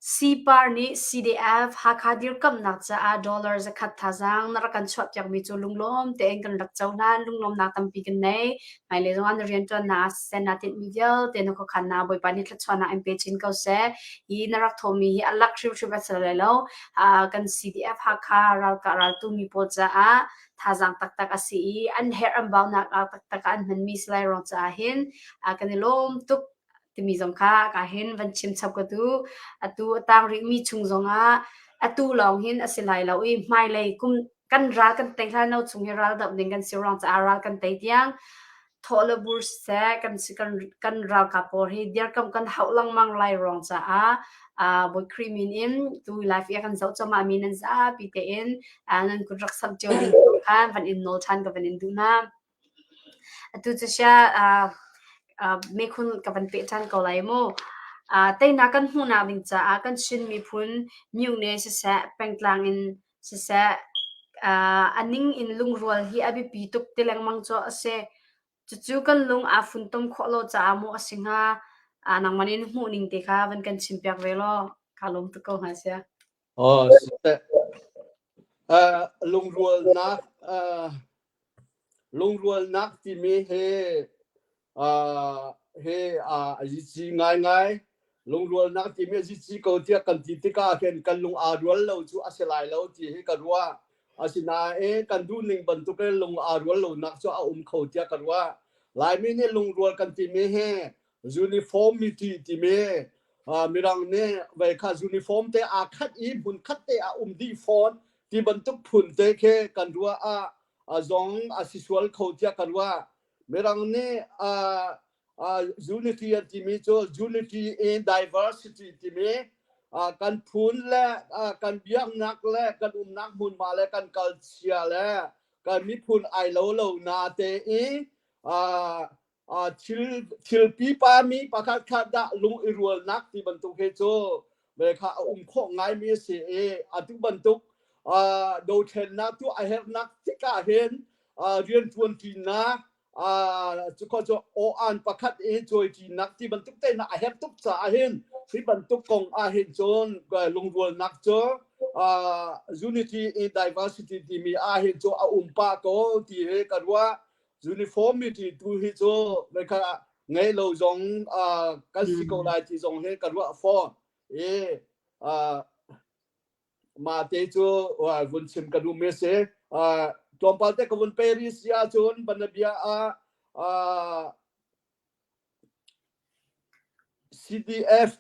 Sipar nih CDF Hakha dirkamhnak caah dollar zakhat thazaang na rak kan chuahpiakmi cu lunglawm tein kan rak co hlan lunglawmnak tampi kan nei. Hmailei zongah na rianṭuannak ah siseh naa tinhmi vialte na khuakhannak Bawipa nih thluachuahnak in pe chin ko seh. Hi na rak thawhmi hi a lak hrimhrim a si lai lo. Uh, kan CDF Hakha ralkah raltu mi pawl caah thazaang taktak a si i an herh an baunak taktak an hmanmi si lai rawng caah hin uh, kan i lawm tuk. timi zong kha ka hin van chim chap ka tu atu a tang rih mi chung zong ah atu lawng hin a si lai lo i hmailei kum kan ral kan tei hlan no chung hi ral dap ding kan si rong ca ral kan tei tiang thole bur se kan kan kan ral ka por hi dir kam kan hau lang mang lai rong ca a uh, bot krimin in tu life ya kan zau choma mi nan za pi te in uh, nan kun rak sam cheu ding khan van in nol than ka van in du na Atu cu sia mekhun ka van peh ṭhan ko lai mu. Teinak kan hmuhnak ding caah kan Chin miphun myone siseh, pengtlang in siseh, a ning in lungrual hi a biapi tuk ti lengmang cu a si. Cucu kan lung aa funtom khawh lo caah maw a si hnga, nangmah nih na hmuhning te kha van kan chim piak ve law kaa lawm tuk ko hnga sia. Aw si teh. Uh, lungrualnak uh, lungrualnak timi he uh, he uh, a zici ngaingai. Lungrualnak timi a zici ko tiah kan ti tikah hin kan lung aa rual lo cu a si lai lo ti hi ka ruah. Asinain kan duh ning bantuk in lung aa rual lonak cu a um kho tiah ka ruah. Laimi nih lungrual kan timi hi uniform miti timi mirang nih vei kha uniform te aa khat i hmun khat te ah um dih fawn ti bantuk phun te khi kan ruah ah zong a si sual kho tiah kan ruah mirang nih unity an timi cu unity in diversity timi kan phun le kan biaknak le kan umnak hmunhma le kan kalchia le kan miphun ai lo lo na te i thil pipa mi pakhat khat dah lung i rualnak ti bantuk he cu me kha a um khawh ngaimi a si i atu bantuk dothlennak tu a herhnak tikah hin rian ṭuanṭinak cu cu aw-an pakhat i cawiṭinak ti bantuk teinak a herh tuk caah hin hi bantuk kong ah hin cun lungrualnak cu unity i diversity timi ah hin cu a um pah ko ti ka ruah Uniformity tu hi cu vekha ngei lo zong kan si ko lai ti zong hi ka ruah fawn i ma te cu vun chim ka duh mi si tlawmpal te ka vun pe ri si ahcun banabia ah CDF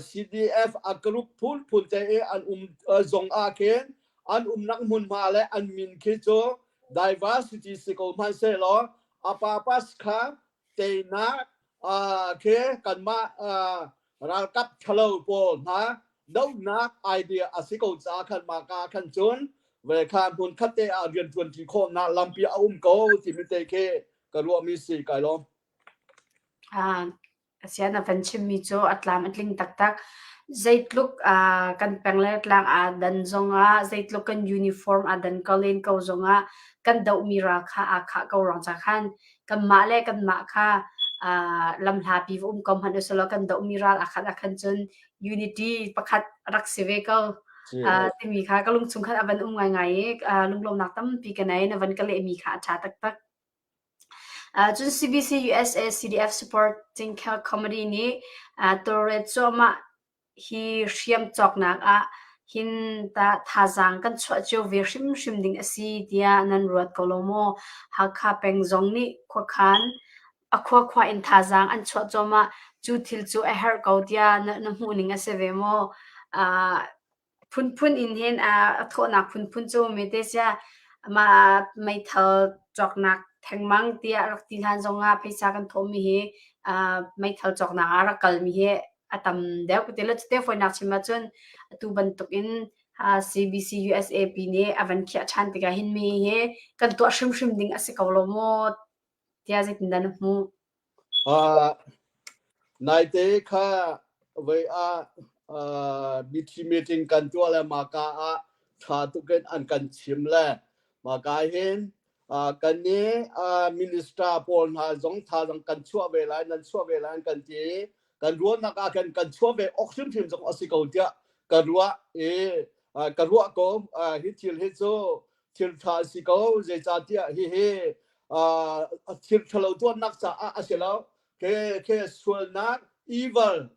CDF a group phunphun te i an um zong ah khin an umnak hmunhma le an min khi cu diversity si ko hmanhsehlaw a papas kha teinak khi kanmah ralkap ṭhalo pawl hna dohnak idea a si ko caah khan mah ka khan cun vekha hmun khatte ah rian ṭuanṭi khawhnak lampi a um ko timi te khi ka ruahmi si kai lawm ah asian a van chimmi cu a tlam a tling taktak zeitluk uh, kan peng le tlang a dan zongah zeitluk kan uniform a dan ko len ko zongah kan doh mira kha a kha ko rong cha khan kan ma le kan ma kha uh, lam hla pi um ko hman usalo kan doh miral akhan akhan chun unity pakhat rak si ve ko uh, timi kha ka lung chung khan avan um ngai ngai uh, lunglom nak tam pi ka nai na van ka le mi kha a tha tak tak Cun CBC USA CDF supporting comedy nih tawlret cuahmah hi hriam cawknak ah hin tah thazaang kan chuah cio ve hrimhrim ding a si tiah nan ruat ko lo maw? Hakha peng zong nih khuakhan a khuakhua in thazaang an chuah cuahmah. Cu thil cu a herh ko tiah na hmuh ning a si ve maw? phunphun inn hen a thawhnak phunphun cu mete sia mah meithal cawknak thengmang tiah rak ti hlan zongah pheisa kan thawhmi hi meithal cawknak ah rak kalmi hi a tam deuh ka ti lo. Cute fawinak chim ahcun atu bantukin CBC USA pi nih a van khiah ṭhan tikah hin mi hi kan tuah hrimhrim ding a si ko lo maw? Naite kha voi ah mitthli meeting kan tuah le maka ah tha tuk in an kan chim le maka hin kan ni minister pawl hna zong thazang kan chuah ve lai nan chuah ve lai an kan ti kan ruahnak ah khan kan chuah ve awk hrimhrim zong a si ko tiah ka ruah i ka ruah ko hi thil hi cu thirtha a si ko zeicahtiah hihi a thirthalo tuannak caah a si lo ke ke sualnak evil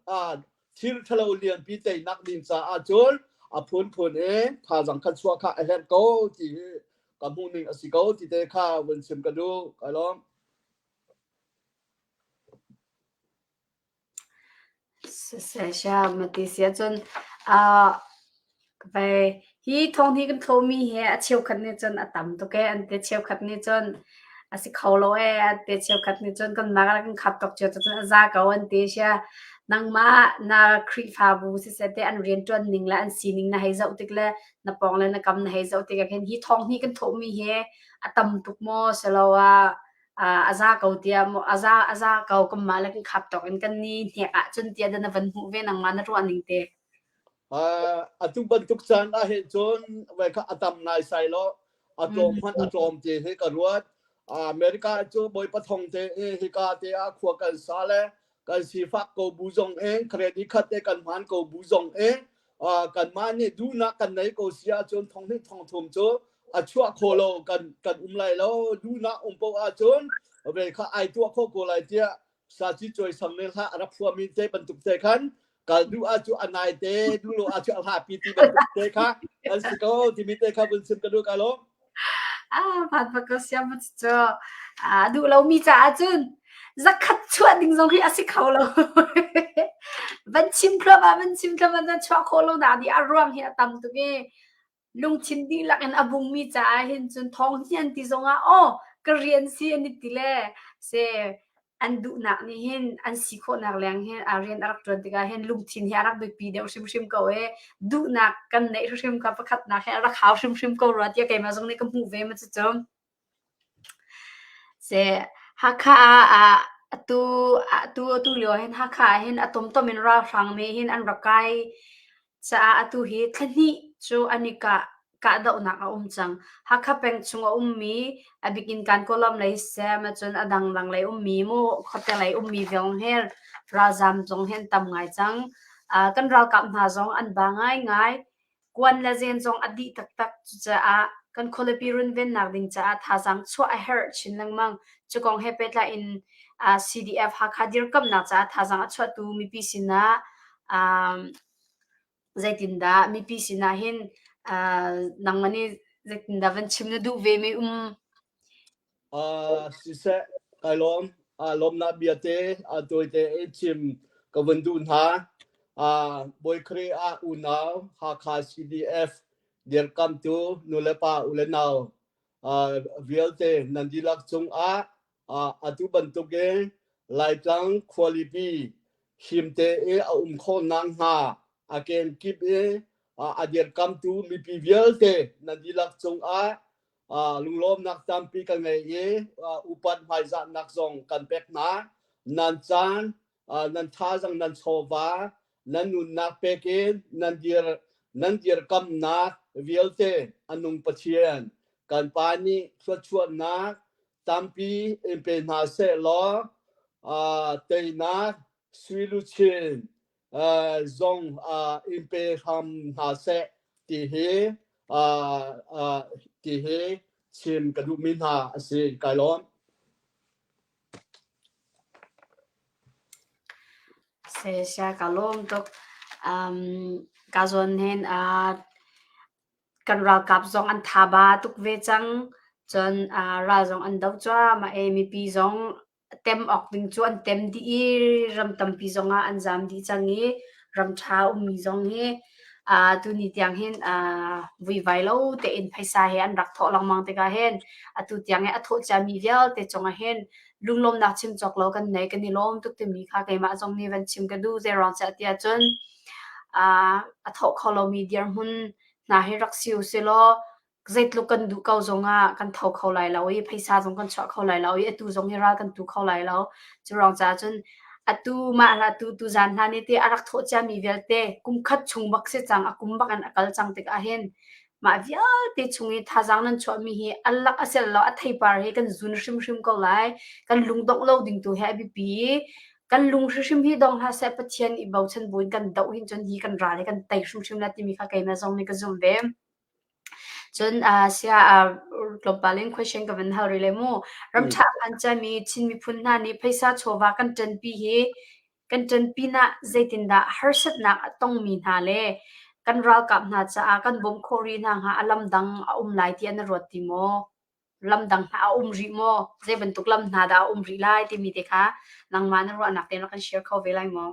thirthalo lianpi teinak ding caah cun a phunphun e thazang khat suwa kha a herh ko ti hi ka hmuh ning a si ko ti te kha vun sim ka du ka lawm Siseh siam a ti si ahcun hi thawng hi kan thlawhmi hi a cheukhat nih cun a tam tuk ee an ti. Cheukhat nih cun a si kho lo ee an ti. Cheukhat nih cun kanmah ah kan khap tuk cio cun a za ko an ti si a. Nangmah na Khrihfabu siseh ti an rianṭuan ning le an sining na hei zoh tik le na pawng le na kam na hei zoh tik ahkhin hi thawng hi kan thlawhmi hi a tam tuk maw siloah uh, a za ko tia mo a za a za ko kum ma le kan khap tok in kan ni hnek ah chun tia dan van hmu ve nang ma na ruan ning te uh, atu bantuk chan a he chon ve kha atam nai sai lo atlom man atlom te he ka ruat america chu boi pathong te hi ka te a khua kan sa le kan sifak ko bu zong eng credit khat te kan hman ko bu zong eng kan mah nih duhnak kan nei ko si ahcun thong nih thong thum cu a chuah kho lo kan kan um lai lo duhnak um po ahcun ve kha ai tuah kho ko lai tiah sa chi choi sang ne hla rap hua min te bantuk te khan kal duh ah cu a nai te duh lo ah cu a hlapi ti bantuk te kha an si ko timi te kha vun sim ka duh ka lo ah pat pa ka siam cu a duh lomi caah cun zakhat chuah ding zong hi a si kho lo van chim thluam ah van chim thluam ah chuah khawh lo da di a ruang hi a tam tuk i Lungthin dihlak in a bungmi caah hin cun thawng hnian ti zongah aw ka rian si an i ti le se an duhnak nih hin an si khawhnak leng hi a rian a rak ṭuan tikah hin lungthin hi a rak biapi deuh hrimhrim ko i duhnak kan neih hrimhrim kha pakhatnak hi a rak hau hrimhrim ko rua tiah keimah zong nih ka hmuh ve ma cucu. Hakha ah atulio hin Hakha ah hin a tumtum in ralhrangmi hin an ra kai caah atu hi thla hnih cu an i kahdohnak a um cang. Hakha peng chung a ummi a bik in Kankawnlam lei sem ahcun a dangdang lei ummi mu khuate lei ummi viaung he ralzaam zong hi an tam ngai cang. Kan ralkap hna zong an ba ngaingai. kuan le zen zong a dih taktak. Cucaah kan khualipi runvennak ding caah thazaang chuah a herh chin lengmang. Cukong he pehtlaih in uh, CDF Hakha dirkamnak caah thazaang a chuahtu mipi sinah um, zeitindah mipi sinah hin uh, nangmani zeitindah van chim na duh ve mi um uh, siseh kai lawm uh, lawmnak bia te uh, tawi te i chim ka vun du hna uh, boikri a unau hakha cdf dirkam tu nule pa ule nau uh, vialte nandilak chung a uh, atu bantuk e laitlang khualipi himte e a um kho nang ha aken kip e uh, adir kam tu mipi vialte nandilak chung a lunglawmnak tampi kan ngei i upat hmaizahnak zong kan pek hna nan caan nan thazang nan chawva nan nunnak pek in nan dir nan dir kamnak vialte anung pathian kan pa nih thluachuahnak tampi in pe hna seh law teinak suiluchin zong in pe hram hna seh ti hi ti hi chim ka duhmi hna a si kai lawm. Se sia ka lawm tuk. Um, ka zawn hen uh, kan ralkap zong an thaba tuk ve cang. Cun uh, ral zong an do cua ma e mipi zong a tem awk ding cu an tem dih i ram tampi zongah an zaam dih cang i ram ṭha ummi zong hi uh, tuni tiang hin uh, vuivai lo tein phaisa he an rak thawh lengmang tikah hin atu tiang i a thawh ciami vialte cungah hin lunglawmnak chim cawk lo kan nei kan i lawm tuk timi kha keimah zong nih van chim ka duh zeiruang cah ti ahcun uh, a thawh kho lomi dirhmun hna hi rak si u silaw Zeitluk kan duh ko zongah kan tho kho lai lo i phaisa zong kan chuah kho lai lo i atu zong hi ral kan tu kho lai lo. Curang caah cun atu mah hlah tu tu zan hna nih teh a rak thawh ciami vialte kum khat chung bak si cang a kum bak in a kal cang tikah hin mah vialte chung i thazaang nan chuahmi hi a lak a sial lo a theipar hi kan zun hrimhrim ko lai. Kan lungdongh lo ding tu hi a biapi i kan lung hrimhrim hi dong hlah seh Pathian i bochan buin kan doh hin cun hi kan ral hi kan tei hrimhrim le timi kha keimah zong nih ka zumh ve. Cun sia tlawmpal in question ka van hal rih le mu. Ramtha a hman ciami Chin miphun hna nih phaisa chawva kan ṭanpi hi kan ṭan pinah zeitindah harsatnak a tongmi hna le kan ralkap hna caah kan bawmh khawh rih hna hnga a lam dang a um lai tiah na ruat ti maw? Lam dang hna a um rih maw? Zei bantuk lam hna dah a um rih lai timi te kha nangmah na ruahnak tein rak kan share kho ve lai maw?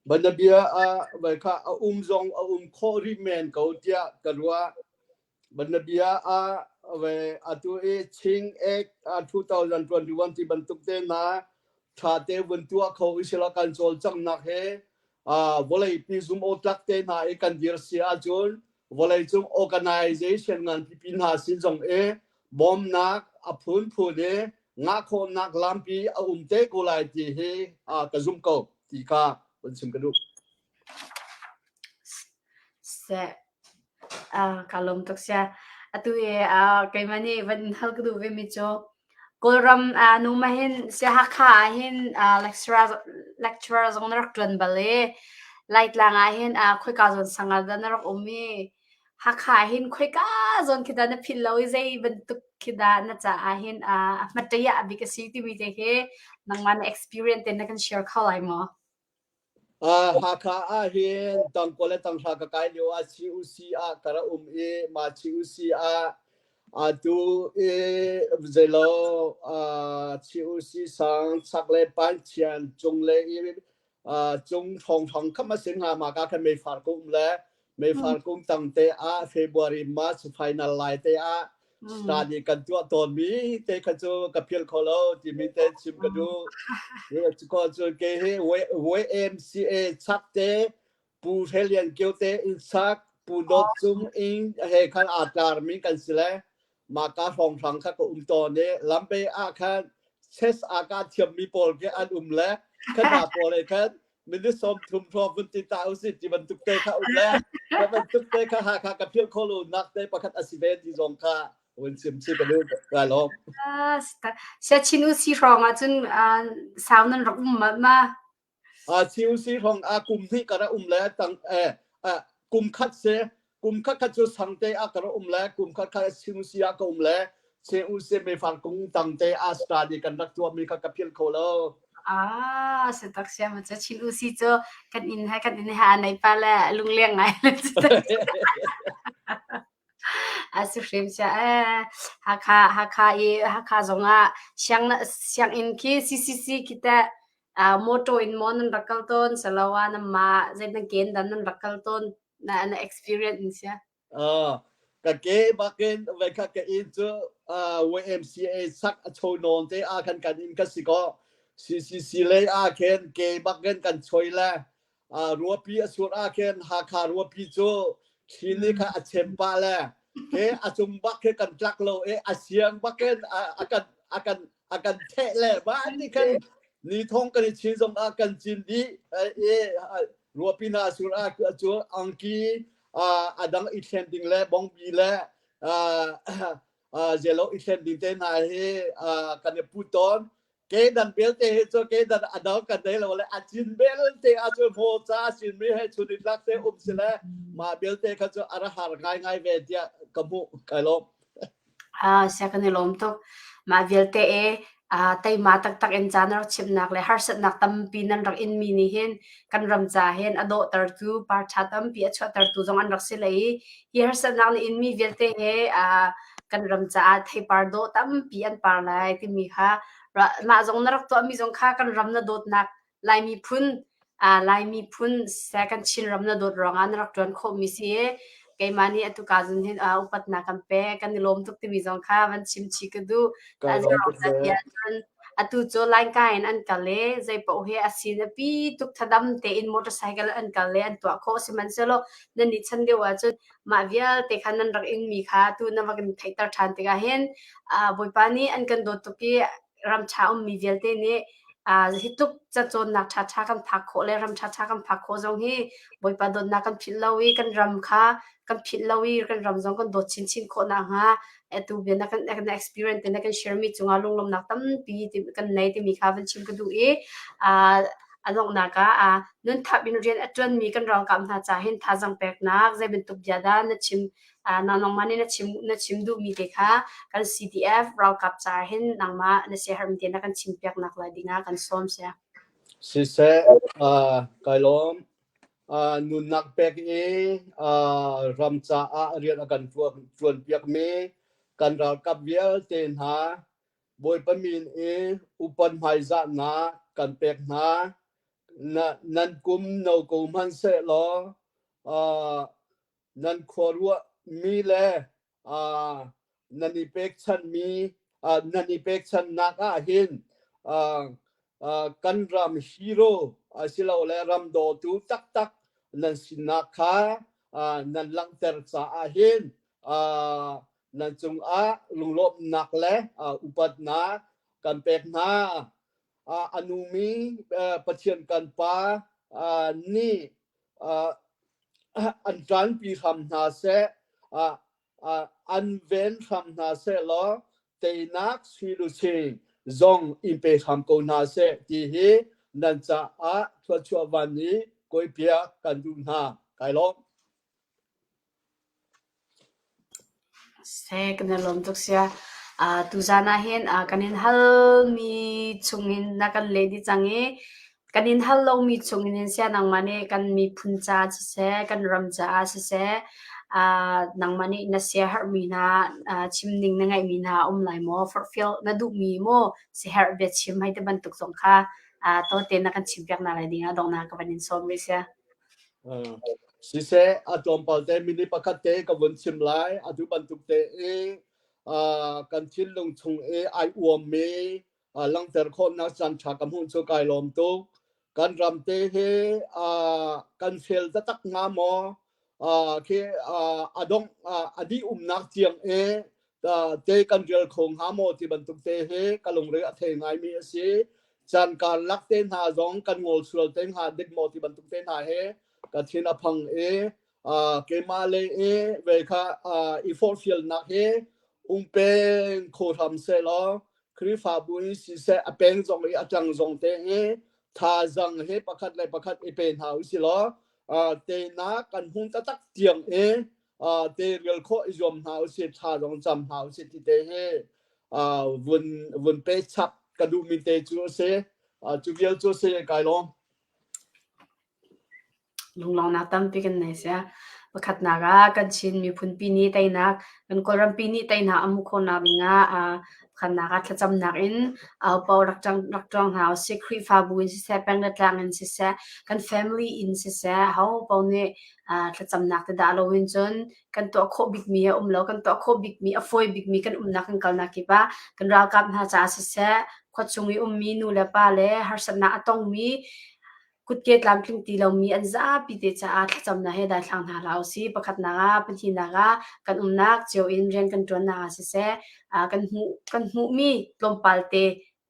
Banabia ah vaikha a um zong a um khawh rih men ko tiah ka ruah. Banabia ah vai atu i Ching Act ah 2021 ti bantuk tehna tha te vun tuah kho i sila kan cawlcanghnak he uh, vawlei pi zum o tlak te hna i kan dir si ahcun vawlei cung organization ngan pipi hna sin zong e bawmnak a phunphun i ngahkhawhnak lampi a um te ko lai ti hi ka zumh ko ti kha kan chim ka duh. Se, ka lom tuk sia. Atu e, keimah ni van hal ka duh ve mi cho. Kawlram nu ma hin si hakha ah hin lecturer zong na rak tuan bale. Laitlang ah hin khoi ka zon sangar da na rak umi Hakha hin khoika zon khi dah na phil lo i zei bantuk khi dah na caah hin a hmatei ah bik a si timi te khi nangmah na experience te na kan share kho lai maw? Uh, Hakha ah hin tangkua le tanghra ka kai lio ah CUC ah ka ra um i mah CUC ah atu i zeilaw uh, CUC sang chak le panchian chung le i cung thong thong kham a sin nga ma ka khan mei far kum le mei far kum tang te ah February March final lai te ah study kan tua ton mi te kha chu ka phil kho lo ti mi te chim ka du ko chu ke he we MCA chak te Pu Hre Lian Kio te inn sak, Pu Dawt Cung in he khan aa tlarmi kan si le mah ka hrawng hrang kha ka um tawn i lampe ah khan ses ah ka thiammi pawl ke an um le kan hna pawl he khan minute sawm thum hrawng vun ti ta usih ti bantuk te kha um le ka bantuk te kha ha kha ka philh khawh lo nak te pakhat asi ve ti zong kha wen sim si ka lu ka lom siachin usi hrawng ah cun sau nan rak um ma Chilsi hong a kum hnih ka ra um le tang kum khat si kum khat khat cu sangte a ka ra um le kum khat khat sinusi a ka um le sinusi me fang kung tangte Australia kan rak tuam mi kha ka phil kho lo Ah, setak siam cha chin usi cho kan in hai kan in ha nai pa la lung leng ngai la asu hrim sia eh ha kha ha kha i ha kha zonga siang na siang in ki ccc kita uh, motor in mon an rakal ton saloa na ma zai na gen dan an rakal ton na na experience in sia uh, ka ke bakin ve ka ke in chu uh, YMCA sak a chho non te a kan kan in ka si ko CCC le a ken ke bakin kan choi le ruapi a suat ah khin Hakha ruapi cu thini kha a chem pa le ke a cung bak khi kan tlak lo e a siang bakin a kan a kan a kan the le ba ni khan ni thong kan i chin zong a kan chin di e ruapi na sur a cu angki a dang i thlen ding le bongbi le zelo i thlen ding te hna hi kan i put tawn kedan belte he cu kedan adal kan dei lo le achin belte a cu mo cha sin mi he chun lak te um sile ma belte kha cu ara har ngai ngai ve dia ka mu kai lo a se kan lom to ma vialte e uh, teima taktak in caan rak chimnak le harsatnak tampi nan rak inmi nih hin kan ram ca hin a dawhtertu parṭha tampi a chuahtertu zong an rak si lei hi harsatnak na inmi vialte he uh, kan ram caah theipar dawh tampi an par lai timi kha mah zong na rak tuahmi zong kha kan ram na dawtnak Lai miphun Lai miphun second Chinram na dawt ruangah na rak ṭuan khawhmi si i keimah nih atu ka zun hin upatnak kan pe kan i lawm tuk timi zong kha van chimchi ka duh. Atu cu Lainka in an kal i zeipaoh hi a sin a pi tuk thadam tein motorcycle an kal i an tuah khawh sihmanhsehlaw nan nih chan deuh ahcun mah vialte khan nan rak ingmi kha tu na va kan theihter ṭhan tikah hin Bawipa nih an kan dawt tuk i ramṭha ummi vialte nih hi tluk cacawnnak ṭhaṭha kan phak khawh le ram ṭhaṭha kan phak khawh zong hi Bawipa dawtnak kan philh lo i kan ram kha kan philh lo i kan ram zong kan dawt chinchin khawh nak hnga tu bia na kan kan experience te na kan share mi cungah lunglawmnak tampi kan nei timi kha van chim ka duh i a donghnak ah nun thap in rian a ṭuan mi kan ralkap hna ca hin thazang peknak zei bantuk bia dah na chim nang nangmah nih na chim na chim duhmi te kha kan CDF ralkap ca hin nangmah na siahermi te na kan chim piak nak la ding ah kan sawm sia. Siseh, uh, kai lawm. Uh, nunnak pek i uh, ram caah rian a kan tuan piakmi kan ralkap vialte hna bawipa min i upan hmaizah na kan pek hna nan kum no ko hman se law uh, nan khuaruahmi le nan i pekchanhmi nan i pekchanhnak ahhin kan ram hero asilole ram dawtu taktak nan sinak kha nan langhter caah hin nan cungah lunglawmhnak le upatnak kan pek hna. A numi Pathian kan Pa nih an ṭanpi hram hna seh, an ven hram hna seh law teinak silusi zong in pe hram ko hna seh ti hi nan caah thluachuah van i koipiak kan duh hna. Kai lawm. Seh kan i lawm tuk sia. Ah tuzan ahhin kan in halmi chungin na kan leh dih cang i kan in hal lomi chungin hin sia nangmah nih kan miphun caah siseh, kan ram caah siseh ah nangmah nih na siaherhmi hna ah chimning na ngeihmi hna a um lai maw? Forhfial na duhmi maw siaherh bia chim hei ti bantuk zong kha ah tote na kan chimpiak hna lai ding ah donghnak ka van in sawm rih sia. Siseh, a tlawmpal te minute pakhat te ka vun chim lai. Atu bantuk te i uh, kan thinlung chung i ai uammi uh, langhter khawhnak caan ṭha ka hmuh cu kai lawm tuk. Kan ram te hi uh, kan fel taktak hnga maw? Uh, khi uh, a dongh uh, a dih umnak tiang i te kan rial kho hnga maw ti bantuk te he ka lungre a thei ngaimi a si chan kaan lak te hna zong kan ngol sual te hnga dik maw ti bantuk te hna he ka thin a phang e keima le e ve kha i forfial nak he ungpeng kho hram se law krifabu in si se a peng zong i a tang zong te he tha zang he pakhat le pakhat i pe hna u si law te na kan hun tatak tiang e teirial khawh i zuam hna usih tha zong cam hna usih ti te hi vun vun pe chak ka duhmi te cu a si cu vial cu a si kai lawm lunglawngnak tampi kan nei sia pakhatnak ah kan chin miphunpi ni teinak kan kawlrampi ni teinak amu khawnak dinga khannak at thlacamnak in aupo rak tang rak tong ha si khrifa bu in si se peng le tlang in si se kan family in si se ho po ne thlacamnak te dah lo in cun kan tuah khawh bikmi a um lo kan tuah khawh bikmi a fawi bikmi kan umnak kan kalnak kip ah kan ralkap hna caah siseh khua chung i ummi nu le pa le harsatnak a tongmi kutke tlamtling ti lomi an zapi te caah thlacamnak he daithlang hna hla usi pakhatnak ah pahnihnak ah kan umnak cio in rian kan tuannak ah siseh kan hmuh kan hmuhmi tlawmpal te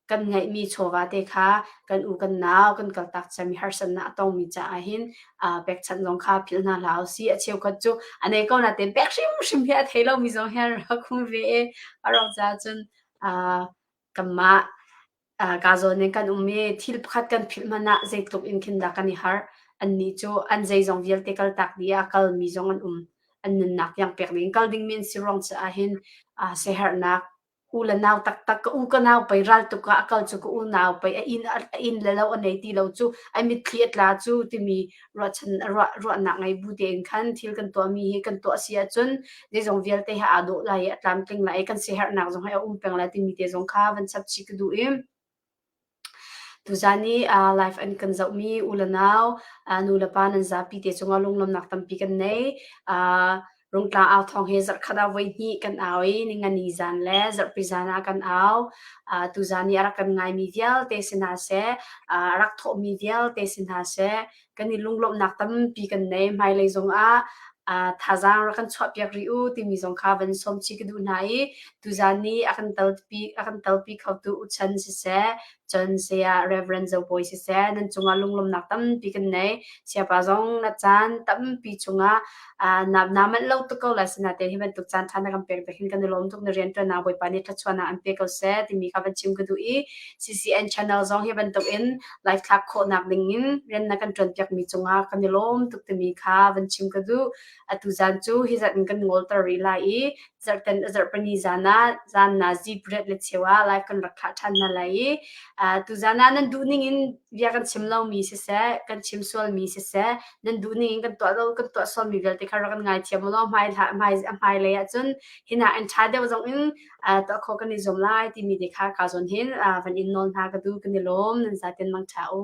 kan ngeihmi chawva te kha kan u kan nau kan kaltak cem i harsatnak a tongmi caah hin uh, pekchanh zong kha philh hna hlah usi a cheukhat cu ane ko na ten pek hrimhrim hi a thei lomi zong hi an ra khung ve e arok ca cun uh, kanmah uh, ka zawn ning kan um i thil pakhat kan philh manah zeitluk in khin dah kan i har anni cu an zei zong vialte kaltak ni a kalmi zong an um an nunnak yang pek ding kal ding min si rong caah hin uh, sehernak U le nau taktak ka u ka nau pei ral tuk ah a kal cu ka unau pei a inn a inn le lo a nei ti lo cu ai mitthli a tla cu timi ruahchan ruah ruahnak ngei bu tein khan thil kan tuahmi hi kan tuah si ahcun zeizong vialte hi aa dawh lai i a tlamtling lai i kan siaherhnak zong hi a um peng lai timi te zong kha van chap chih ka duh i Tuzaan i live an kan zohmi u le nau, nu le pa nan zapi te cungah lunglawmnak tampi kan nei. Rungtla au thawng hi zarhkhat ah voihnih kan au i ningani zaan le zarhpi zaan ah kan au. Tuzaan i a rak kan ngaimi vialte si hna seh, a rak thawhmi vialte si hna seh, kan i lunglawmhnak tampi kan nei. Hmailei zongah ah thazaang rak kan chuahpiak rih u timi zong kha van sawmci ka duh hna i tuzaan ni a kan telpi a kan telpi khotu uchan siseh cun saya Reverend Zo Bawi siseh nan cungah lunglawmhnak tampi kan nei. Siapa zong na caan tampi chungah na na manh lo tuk ko la sina te hi bantuk chan than na kan pek te hin kan lom tuk na rian tuan na boipa ni thachuan na an pe ko se timi ka ban chim ku du i CCN channel zong hi bantuk in live thlak kho nak ding in ren na kan tuan piak mi chunga kan lom tuk timi kha ban chim ku du atu zan chu hi zat kan ngol tar ri lai i zarh kan zarh pali zan ah zan na zit riat le cheu ah live kan rak thlah ṭhan hna lai i tu zan ah nan duh ning in bia kan chim lomi siseh kan chim sualmi siseh nan duh ning in kan tuah lo kan tuah sualmi vialte kha rak kan ngai thiam law hmai hla hmai a hmai lei ahcun hina in ṭha deuh zong in tuah kho kan i zuam lai timi te kha ka zon hin van in nawl hna ka du kan i lawm nan zaten mang ṭha u